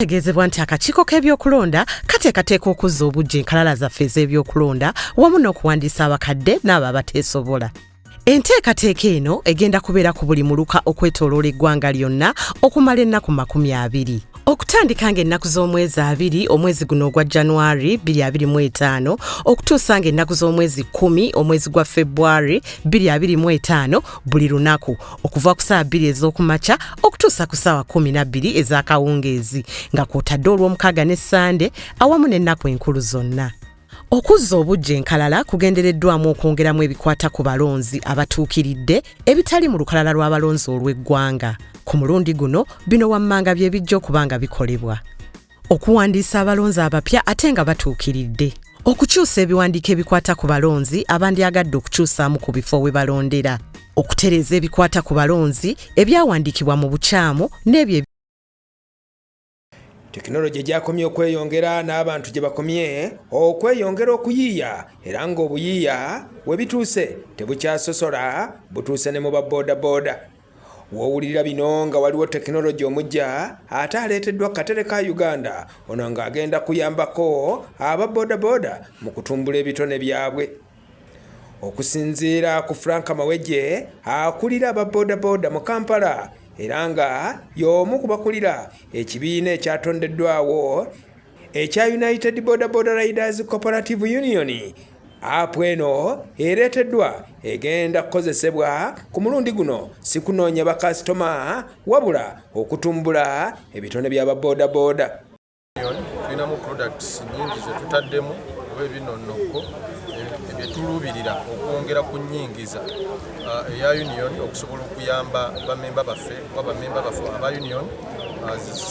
Kitegeezebwa nti akakiiko k'ebyokulonda kateekateeka okuzza obujja enkalala zaffe ez'ebyokulonda wamu n'okuwandiisa abakadde n'abo abateesobola. Enteekateeka eno egenda kubeera ku buli muluka okwetooloola eggwanga lyonna okumala ennaku makumi abiri. Okutandika ng'ennaku z'omwezi abiri omwezi guno ogwa January 2025 okutuusa ng'ennaku z'omwezi kkumi omwezi gwa February 2025 buli lunaku okuva ku saawa bbiri ez'okumakya okutuusa ku saawa kumi nabbiri ez'akawungeezi nga kwotadde olw'omukaaga ne ssande awamu n'ennaku enkulu zonna okuzza obujja enkalala kugendereddwamu okwongeramu ebikwata ku balonzi abatuukiridde ebitali mu lukalala lw'abalonzi olw'eggwanga ku mulundi guno bino wammanga bye bijja okuba nga bikolebwa okuwandiisa abalonzi abapya ate nga batuukiridde okukyusa ebiwandiiko ebikwata ku balonzi abandyagadde okukyusaamu ku bifo we balondera okutereeza ebikwata ku balonzi ebyawandiikibwa mu bukyamu n'ebyo tekinologi gyakomye okweyongera n'abantu gye bakomye okweyongera okuyiiya era ng'obuyiiya we bituuse tebukyasosola butuuse ne mu ba boodabooda Wowulira bino nga waliwo tekinologi omujja ate aleeteddwa katere ka Uganda ono ng'agenda kuyambako aba bodaboda mu kutumbula ebitone byabwe. Okusinziira ku Frank Mawejje akulira aba bodaboda mu Kampala era nga y'omu ku bakulira ekibiina ekyatondeddwawo ekya United Boda Boda Riders Cooperative Union apu eno ereeteddwa egenda kukozesebwa ku mulundi guno sikunoonya bakasitoma wabula okutumbula ebitone by'ababoodabooda tulinamu products nyingi zetutaddemu oba ebinonokko byetuluubirira okwongera ku nyingiza uh, eya union okusobola okuyamba bamemba baffe oba bamemba baffe aba union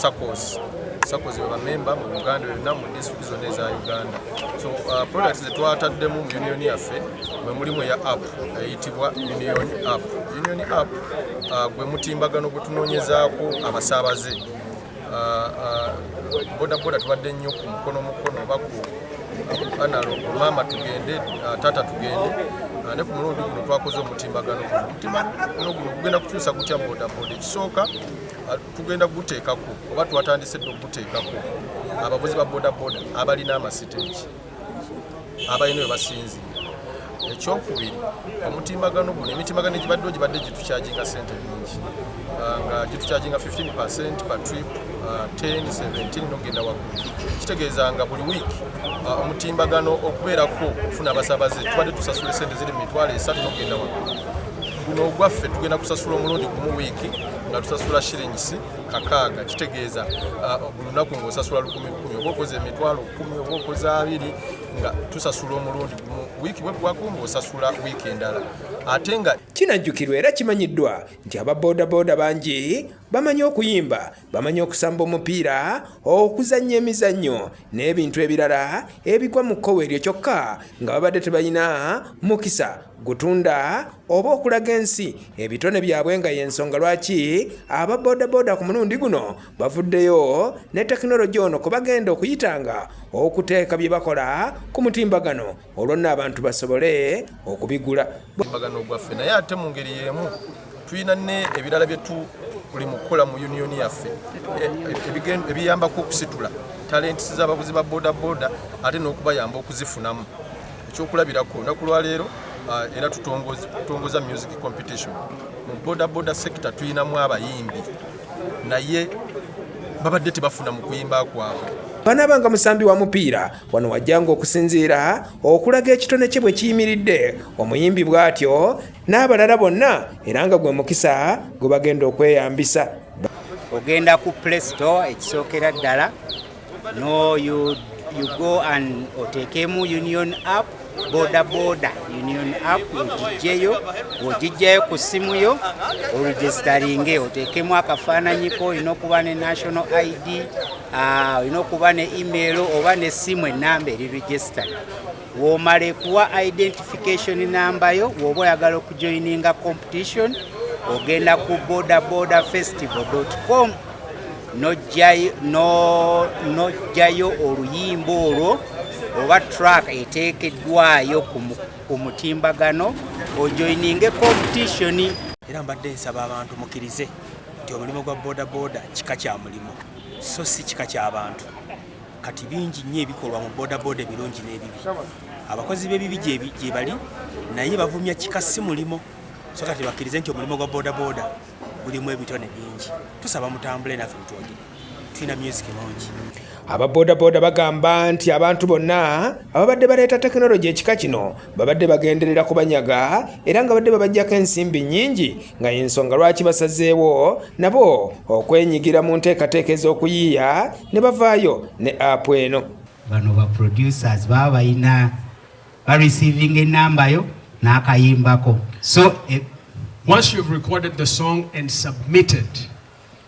sakosi sakozi baba memba mu uganda yonna mu disitulikiti zonna eza uganda so uh, product zetwataddemu mu union yaffe mwe mulimu eya app eyitibwa union app union app uh, gwe mutimbagano gwe tunoonyezaako abasaabaze uh, bodaboda tubadde nnyo ku mukono mukono oba ku analo maama tugende taata tugende ne ku mulundi guno twakoze omutimbagano guno omutimbagano guno gugenda kukyusa gutya bodaboda ekisooka ah, tugenda kuguteekako oba twatandise dde okuguteekako abavuzi ba bodaboda abalina amasiteegi abalina we basinziira ekyokubiri omutimbagano guno emitimbagano egibaddewo gibadde gitukyaginga sente nyingi ah, nga gitukyaginga 15 percent per trip 10 ah, 17 nokugenda waggulu kitegeeza nga buli wiiki ah, omutimbagano okubeerako okufuna abasabaze tubadde tusasula esente ziri mu mitwalo esatu nokugenda waggulu guno ogwaffe tugenda kusasula omulundi gumu wiiki nga tusasula shillings kakaaga kitegeeza uh, olunaku nga osasula lukumi lukumi oba okoza emitwalo kumi oba okoza abiri nga tusasula omulundi gumu wiiki bweggwako nga osasula wiiki endala ate nga kinajjukirwa era kimanyiddwa nti aba bodaboda bangi bamanyi okuyimba bamanyi okusamba omupiira okuzannya emizannyo n'ebintu ebirala ebigwa mu kkowe eryo kyokka nga babadde tebalina mukisa gutunda oba okulaga ensi ebitone byabwe nga yensonga lwaki aba bodaboda ku mulundi guno bavuddeyo ne tekinologi ono kubagenda okuyitanga okuteeka bye bakola ku mutimbagano olwonna abantu basobole okubigula mutimbagano gwaffe naye ate mu ngeri y'emu tulina ne ebirala byetu buli mukukola mu uniyoni yaffe e, e, ebiyambako okusitula talenti z'abavuzi ba bodaboda ate n'okubayamba okuzifunamu Ekyokulabirako olunaku lwaleero ah, era tutongoza music competition mu bodaboda sector tulinamu abayimbi naye babadde tebafuna mu kuyimba kwabwe banaabanga musambi wa mupiira wano wajjanga okusinziira okulaga ekitone kye bwe kiyimiridde omuyimbi bw'atyo n'abalala bonna era nga gwe mukisa gwe bagenda okweyambisa ogenda ku play store ekisookera ddala No, you, you go and otekemu union app boda boda union app ogijjeyo ogijjayo ku ssimu yo oregisitaringe oteekemu akafaananyi ko olina okuba ne national id ah, olina okuba ne email oba n'essimu ennamba eri regisitary womale kuwa identification namba yo woba oyagala okujoininga competition ogenda ku bodaboda festival com nojjayo oluyimba olwo oba track eteekeddwayo ku mutimbagano ojoininge competition era mbadde nsaba abantu mukirize nti omulimu gwa bodaboda kika kya mulimu so si kika kyabantu kati bingi nnyo ebikolwa mu bodaboda ebirungi n'ebibi abakozi b'ebibi gyebali naye bavumya kika si mulimo so kati bakkirize nti omulimu gwa bodaboda gulimu ebitone bingi tusaba mutambule naffe mutwogere tulina myuziki mungi aba bodaboda bagamba nti abantu bonna ababadde baleeta tekinologi ekika kino babadde bagenderera kubanyaga era nga badde babajjako ensimbi nnyingi nga y'ensonga lwaki basazeewo nabo okwenyigira mu nteekateeka ez'okuyiiya ne bavaayo ne apu eno bano ba producers baba balina ba receiving enamba yo n'akayimbako so eh, once you've recorded the song and submitted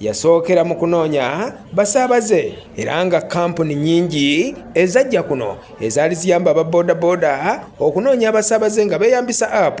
yasookera mu kunoonya basaabaze era nga kampuni nyingi ezajja kuno ezaali ziyamba aba bodaboda okunoonya abasaabaze nga beeyambisa app